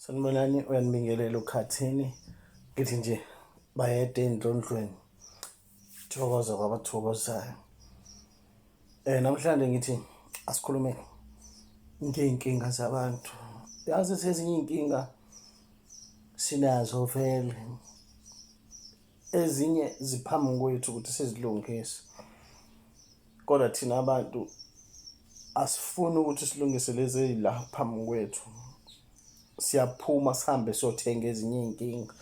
Sanibonani uyanibingelela ukhathini ngithi nje bayede endlondlweni thokoza kwabathokozayo eh namhlanje ngithi asikhulume ngeyinkinga zabantu yazi sezinye inkinga sinazo vele ezinye ziphambi kwethu ukuthi sizilungise kodwa thina abantu asifuni ukuthi silungise lezi ezila phambi kwethu siyaphuma sihambe siyothenga ezinye iy'nkinga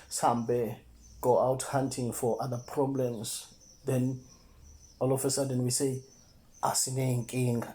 sihambe go out hunting for other problems then all of a sudden we say asiney'nkinga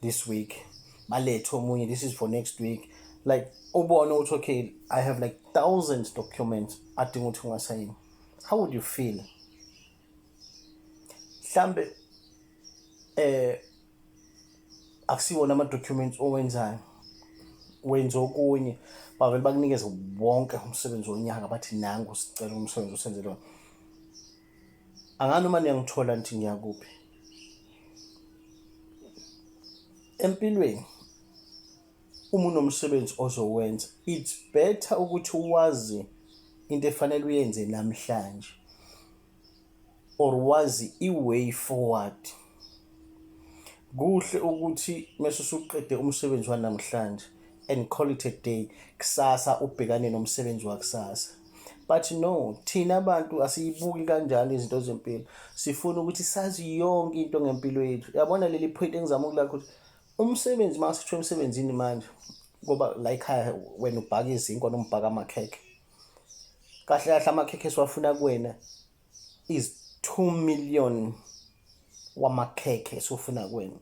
this week balethe omunye this is for next week like ubone ukuthi okay i have like thousands documents adinga ukuthi ungasayini how would you feel mhlambe eh akusiwona ama documents owenzayo wenza okunye bavele bakunikeze wonke umsebenzi wonyaka bathi nangu sicela umsebenzi usenzele wona angani uma niyangithola nithi ngiyakuphi empilweni uma unomsebenzi ozowenza it's better ukuthi wazi into efanele uyenze namhlanje or wazi i-way forward Kuhle ukuthi mese usuqede umsebenzi wanamhlanje and call it a day kusasa ubhekane nomsebenzi wakusasa but no thina abantu asiyibuki kanjalo izinto zempilo sifuna ukuthi sazi yonke into ngempilo yethu yabona leli point engizama ukulakho ukuthi umsebenzi uma sithiwa emsebenzini manje ngoba la ekhaya wena ubhaka izinkwa nombhaka amakhekhe kahle kahle amakhekhe esiwafuna kuwena is 2 million wamakhekhe esufuna kwenu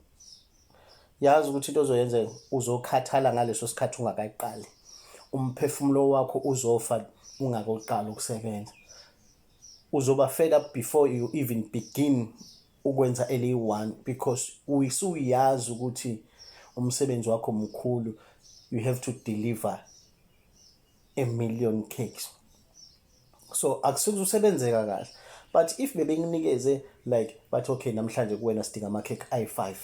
yazi ukuthi into ozoyenza uzokhathala ngaleso sikhathi ungakaqali umphefumulo wakho uzofa ungakoqala ukusebenza uzoba fed up before you even begin ukwenza eliyi-one because usuyazi ukuthi umsebenzi wakho mkhulu you have to deliver a million cakes so akusuke usebenzeka kahle but if bebekunikeze like bathi okay namhlanje kuwena sidinga ama cake ayi5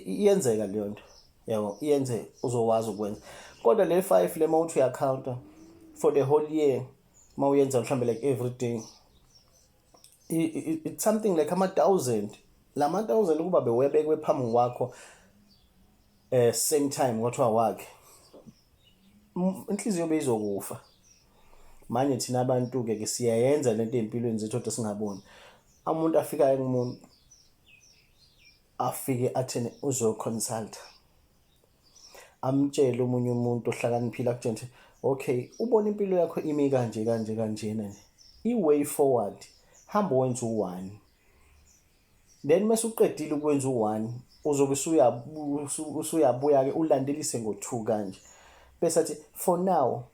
iyenzeka leyo nto yabo iyenze uzowazi ukwenza kodwa le 5 le mawuthi uyacounta for the whole year mawuyenza mhlambe like every day it's something like ama 1000 lama 1000 kuba bewebekwe phambi kwakho eh same time kwathiwa wakhe inhliziyo beyizokufa manje thina abantu ke ke siyayenza lento empilweni zethu kodwa singaboni umuntu afikayo kumuntu afike athene uzo consult amtshele umunye umuntu ohlakaniphile akutshela ukuthi okay ubona impilo yakho imi kanje kanje kanjena i way forward hamba wenza u1 then mase uqedile ukwenza u-one uzobe usuyabuya-ke ulandelise ngo-two kanje bese athi for now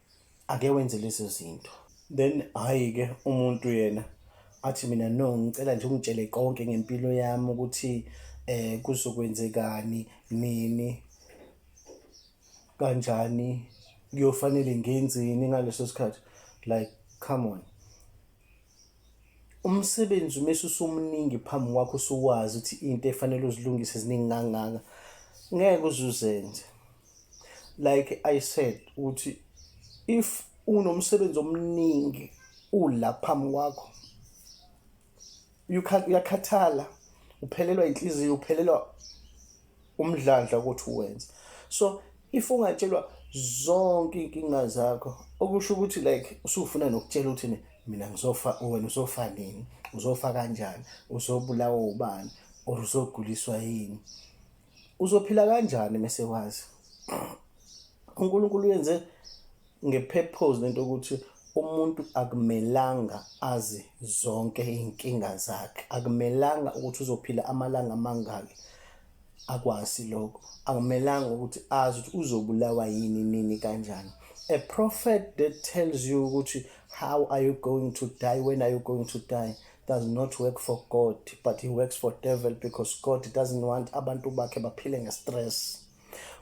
ake wenze lezo zinto then hhayi-ke umuntu yena athi mina no ngicela nje ungitshele konke ngempilo yami ukuthi eh kuzokwenzekani nini kanjani kuyofanele ngenzeni ngaleso sikhathi like come on umsebenzi uma usumuningi phambi kwakho usuwazi ukuthi into efanele uzilungise ziningi kangaka ngeke uzuzenze like i said ukuthi if unomsebenzi omningi ula phambi kwakho uyakhathala uphelelwa inhliziyo uphelelwa umdlandla ukuthi uwenze so if ungatshelwa zonke iy'nkinga zakho okusho ukuthi like usufuna nokutshela ukuthi mina ngizofa wena uzofa nini uzofa kanjani uzobulawa ubani or uzoguliswa yini uzophila kanjani mese wazi uNkulunkulu uyenze ngepurpose lento ukuthi umuntu akumelanga azi zonke iy'nkinga zakhe akumelanga ukuthi uzophila amalanga amangaki akwazi lokho akumelanga ukuthi azi ukuthi uzobulawa yini nini kanjani a prophet that tells you ukuthi how are you going to die when are you going to die does not work for god but he works for devil because god doesn't want abantu bakhe baphile nge-stress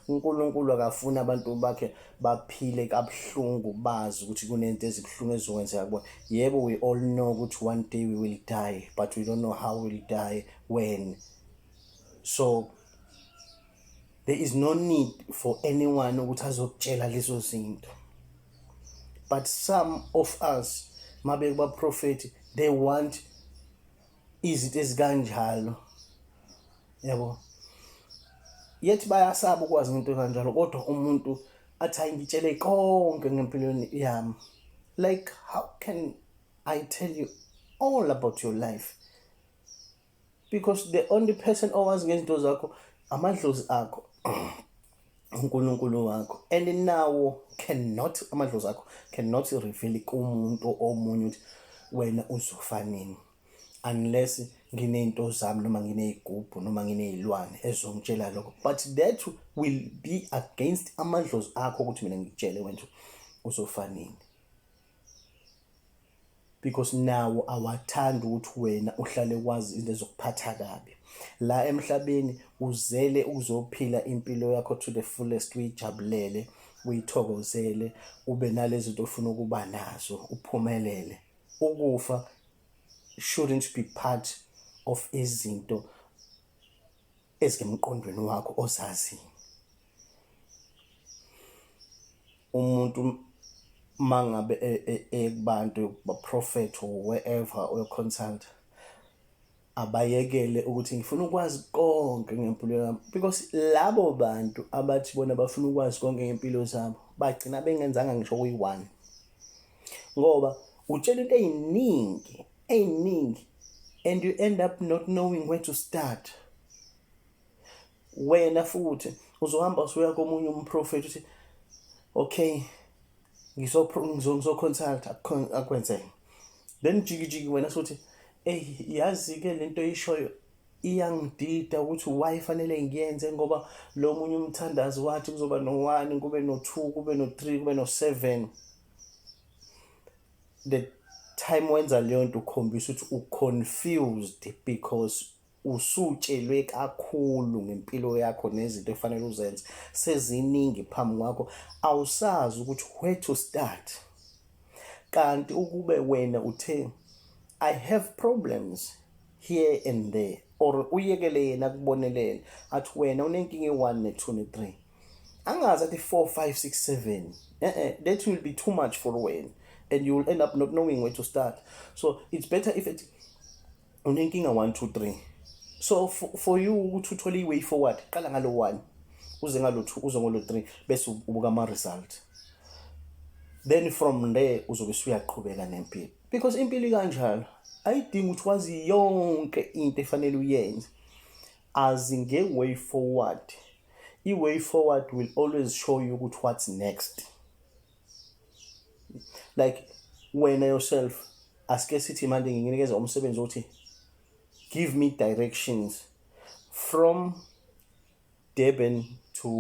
uNkulunkulu akafuni abantu bakhe baphile kabuhlungu bazi ukuthi kunento ezibuhlungu ezizokwenzeka kubona yebo we all know ukuthi one day we will die but we don't know how we will die when so there is no need for anyone ukuthi azokutshela lezo zinto but some of us mabe kubaprofethi they want izinto ezikanjalo yabo yethi bayasaba ukwazi into kanjalo kodwa umuntu athi hayi ngitshele konke ngempilweni yami like how can i tell you all about your life because the only person owazi ngezinto zakho amadlozi akho uNkulunkulu wakho and nawo cannot amadlozi akho cannot reveal kumuntu omunye ukuthi wena uzofa nini unless nginezinto zami noma nginezigubhu noma nginezilwane ezongitshela lokho but that will be against amadlozi akho ukuthi mina ngikutshele wena uzofanini because nawo awathanda ukuthi wena uhlale kwazi into ezokuphatha kabi la emhlabeni uzele ukuzophila impilo yakho to the fullest uyijabulele uyithokozele ube nalezi zinto ofuna ukuba nazo uphumelele ukufa shouldn't be part of izinto ezimqondweni wakho ozazi umuntu mangabe ekubantu e, e, ba prophet or wherever or consult abayekele ukuthi ngifuna ukwazi konke ngempilo yami because labo bantu abathi bona bafuna ukwazi konke ngempilo zabo bagcina bengenzanga ngisho kuyi-one ngoba utshela into ey'ningi ey'ningi and you end up not knowing where to start wena futhi uzohamba usuya komunye umprofethi uthi okay ngizoconsulta akwenzeke then jikijiki wena sothi eyi yazi-ke le nto eyishoyo iyangidida ukuthi why fanele ngiyenze ngoba lo munye umthandazi wathi kuzoba no-one kube no-two kube no-three kube no-seven the time wenza leyo nto ukhombisa ukuthi uconfused because usutshelwe kakhulu ngempilo yakho nezinto efanele uzenze seziningi phambi kwakho awusazi ukuthi where to start kanti ukube wena uthe i have problems here and there or uyekele yena kubonelele athi wena unenkinga e-1 ne-2 ne-3 angazi athi 4 5 6 7 eh eh that will be too much for wena and you will end up not knowing where to start so it's better if it unenkinga 1 2 3 so for, for you ukuthi uthole i-way forward qala ngalo 1 uze ngalo 2 uze ngolo 3 bese ubuka ama-result then from there uzobe usuyaqhubeka nempilo because impilo ikanjalo ayidingi ukuthi wazi yonke into efanele uyenze as nge-way forward i-way forward will always show you ukuthi what's next like wena yourself asike sithi manje nginikeza umsebenzi othi give me directions from Durban to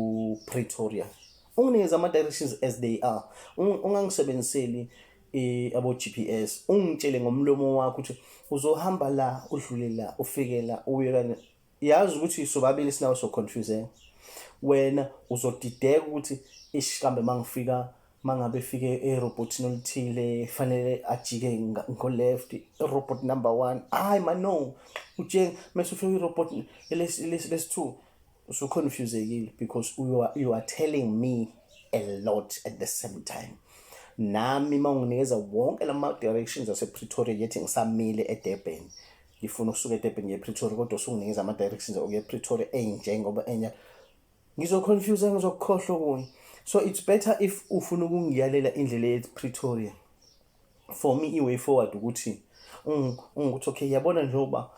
Pretoria unginikeza ama directions as they are ungangisebenziseli eh, abo GPS ungitshele ngomlomo wakho ukuthi uzohamba la udlule la ufike la uye kanye yazi ukuthi sobabili sinawe so confusing wena uzodideka ukuthi ish kambe mangifika mangabe efike erobotini oluthile fanele ajike ngo-left irobot number one hayi mano utshenge mese ufike irobot lesi-two usuconfusegile because you are, you are telling me a lot at the same time nami uma unginikeza wonke la ma-directions asepretoria yethi ngisamile edurban ngifuna ukusuka eDurban ngiye ePretoria kodwa usunginikeza ama directions okuya ePretoria enje ngoba enya ngizoconfuse ngizokukhohlwa kunye so it's better if ufuna ukungiyalela indlela ePretoria for me iway forward ukuthi ungukuthi okay yabona njengoba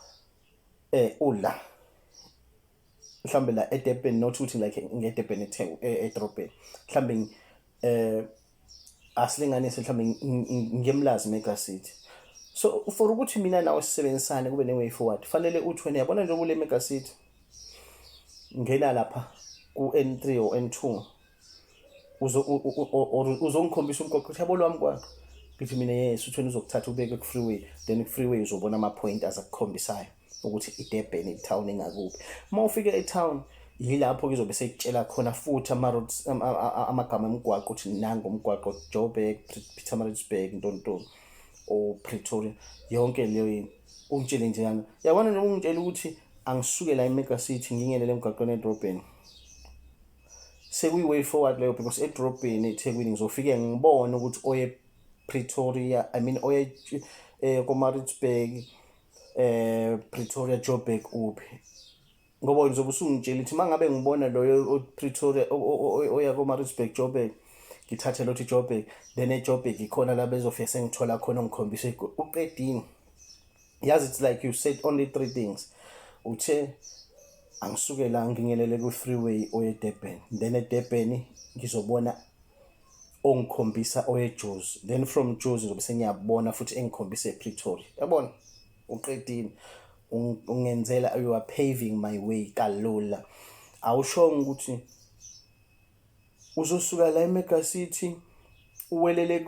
eh ula mhlambe la eDurban not ukuthi like ngeDurban eTheku eDrobheni mhlambe eh asilinganise mhlawumbe ngemlazi mega city so for ukuthi mina nawe sisebenzisane kube ne-way forward fanele uthi wena yabona nje kule mega city ngena lapha ku-n three or n two uzongikhombisa umgoqo ukuthi yabo lwami kwakho ngithi mina yes uthweni uzokuthatha ubeke ku-freeway then ku-freeway uzobona ama-point azakukhombisayo ukuthi iDurban itown engakuphi uma ufika etown yilapho kuzobe sekutshela khona futhi ama-roads amagama emgwaqo ukuthi nango umgwaqo joburg pietermaritzburg ntontoni or pretoria yonke leyo yini ungitshele njengana yabona noma ungitshela ukuthi angisuke la emega city ngingenele emgaqweni edrobheni sekuyi-way forward leyo because edrobheni ethekwini ngizofike ngibone ukuthi oye pretoria i mean oye um komaritzburg eh Pretoria Joburg uphi ngoba ngizobe usungitshela ukuthi mangabe ngibona loyo oPretoria oya koMaritzburg Joburg ngithathe lothi Joburg then eJoburg ikhona la bezofika sengithola khona ngikhombise uqedini yazi it's like you said only three things uthe angisuke la ngingelele ku-freeway oye-durban then edurban ngizobona ongikhombisa oweJuzi then from Juzi ngizobe sengiyabona futhi engikhombisa ePretoria yabona uqedile ungenzela you are paving my way kalula awushongo ukuthi uzosuka la eMega City uwelele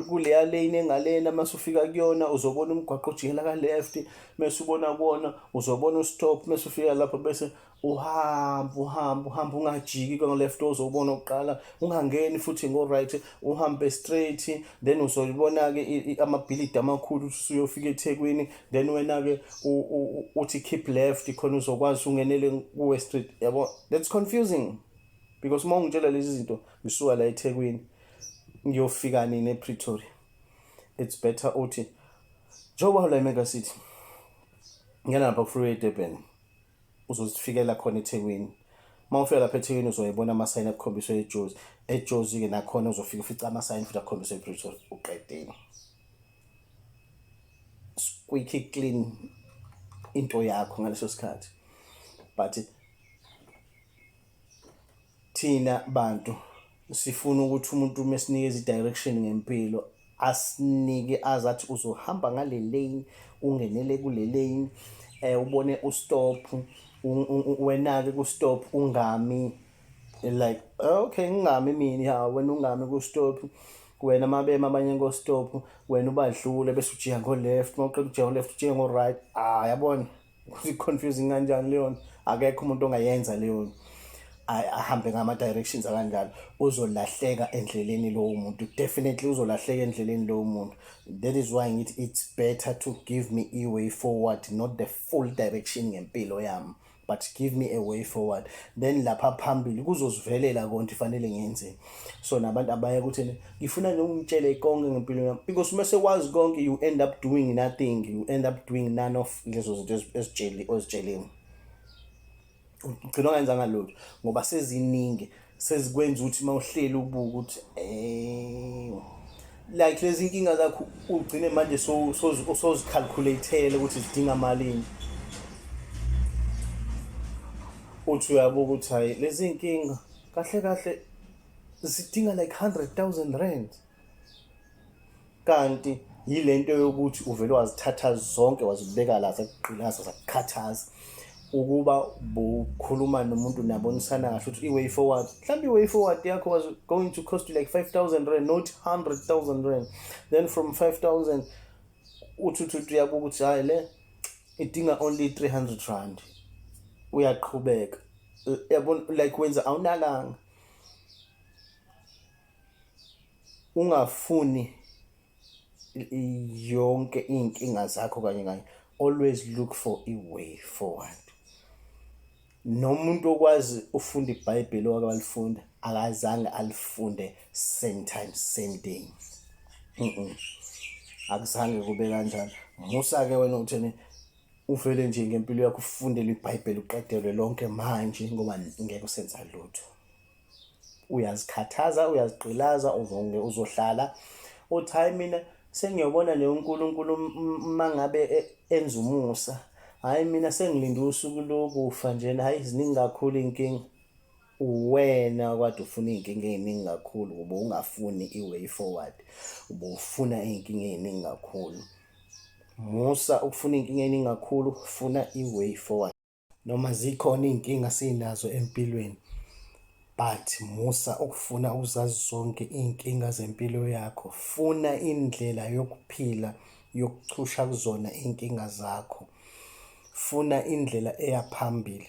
kuleya lane engalena mase ufika kuyona uzobona umgwaqo ojikela kaleya futhi mase ubona kuwona uzobona ustop mase ufika lapho bese uhambe uhambe uhambe ungajiki kwangeleft ozobona oqala ungangeni futhi ngo-right uhambe straight then uzoyibona-ke amabhilidi amakhulu usuyofika ethekwini then wena-ke uthi keep left khona uzokwazi ungenele kuwe street yabo that's confusing because uma ungitshela lezi zinto ngisuka la ethekwini ngiyofika nini epretoria it's better uthi njengoba ula imega city ngena lapha kufriway edurban uzozifikela khona ethekwini uma ufika lapha ethekwini uzoyibona amasayini akukhombiswe ejozi ejozi-ke nakhona uzofika ufica amasayini futhi akukhombiswe epretoria uqedeni squeaky clean into yakho ngaleso sikhathi but thina bantu sifuna ukuthi umuntu uma esinikeza i-direction ngempilo asinike azi athi uzohamba ngale lane ungenele kule lane um ubone ustop wena-ke kustop ungami like okay ngingami mina ya wena ungami kustop wena mabema abanye ngostop wena ubadlule bese ujiya ngo-left uma uqeda ujiya ngo-left ujiya ngo-right ah yabona ukuthi confusing kanjani leyo nto akekho umuntu ongayenza leyo nto ahambe ngama directions akanjalo uzolahleka endleleni lowo muntu definitely uzolahleka endleleni lowo muntu that is why ngithi it's better to give me a way forward not the full direction ngempilo yami but give me a way forward then lapha phambili kuzozivelela konke fanele ngenzeni so nabantu abaye kuthini ngifuna nje ungitshele konke ngempilo yami because uma sekwazi konke you end up doing nothing you end up doing none of lezo zinto ezitsheli ozitsheleni ugcina ongenzanga lutho ngoba seziningi sezikwenza ukuthi uma uhleli ubuka ukuthi eh like lezi inkinga zakho ugcine manje so sozicalculateele ukuthi zidinga malini uthi uyabuka ukuthi hayi lezi inkinga kahle kahle zidinga like 100,000 rand kanti yilento yokuthi uvele wazithatha zonke wazibeka la zakugqilaza zakukhathaza ukuba bukhuluma nomuntu nabonisana kahle ukuthi i-way forward mhlawumbe i-way forward yakho was going to cost you like 5000 rand not 100000 rand then from 5000 uthi uthi uyabuka ukuthi hhayi le idinga only 300 rand uyaqhubeka yabona like wenza awunakanga ungafuni yonke inkinga zakho kanye kanye always look for a way forward nomuntu okwazi ufunda iBhayibheli owake walifunda akazange alifunde same time same day akuzange kube kanjalo musa ke wena uthini uvele nje ngempilo yakho ufundele ibhayibheli uqedelwe lonke manje ngoba ngeke usenza lutho uyazikhathaza uyazigqilaza uzonge uzohlala uthi hayi mina sengiyobona le unkulunkulu uma ngabe e-, enza umusa hhayi mina sengilinde usuku lokufa njena hhayi ziningi kakhulu iy'nkinga uwena kwade ufuna iy'nkinga ey'ningi kakhulu ube ungafuni i-way forward ube ufuna iy'nkinga ey'ningi kakhulu musa ukufuna iy'nkinga ey'ningi kakhulu funa i-way forward noma zikhona iy'nkinga sinazo empilweni but musa ukufuna ukuzazi zonke iy'nkinga zempilo yakho funa indlela yokuphila yokuchusha kuzona iy'nkinga zakho funa indlela eya phambili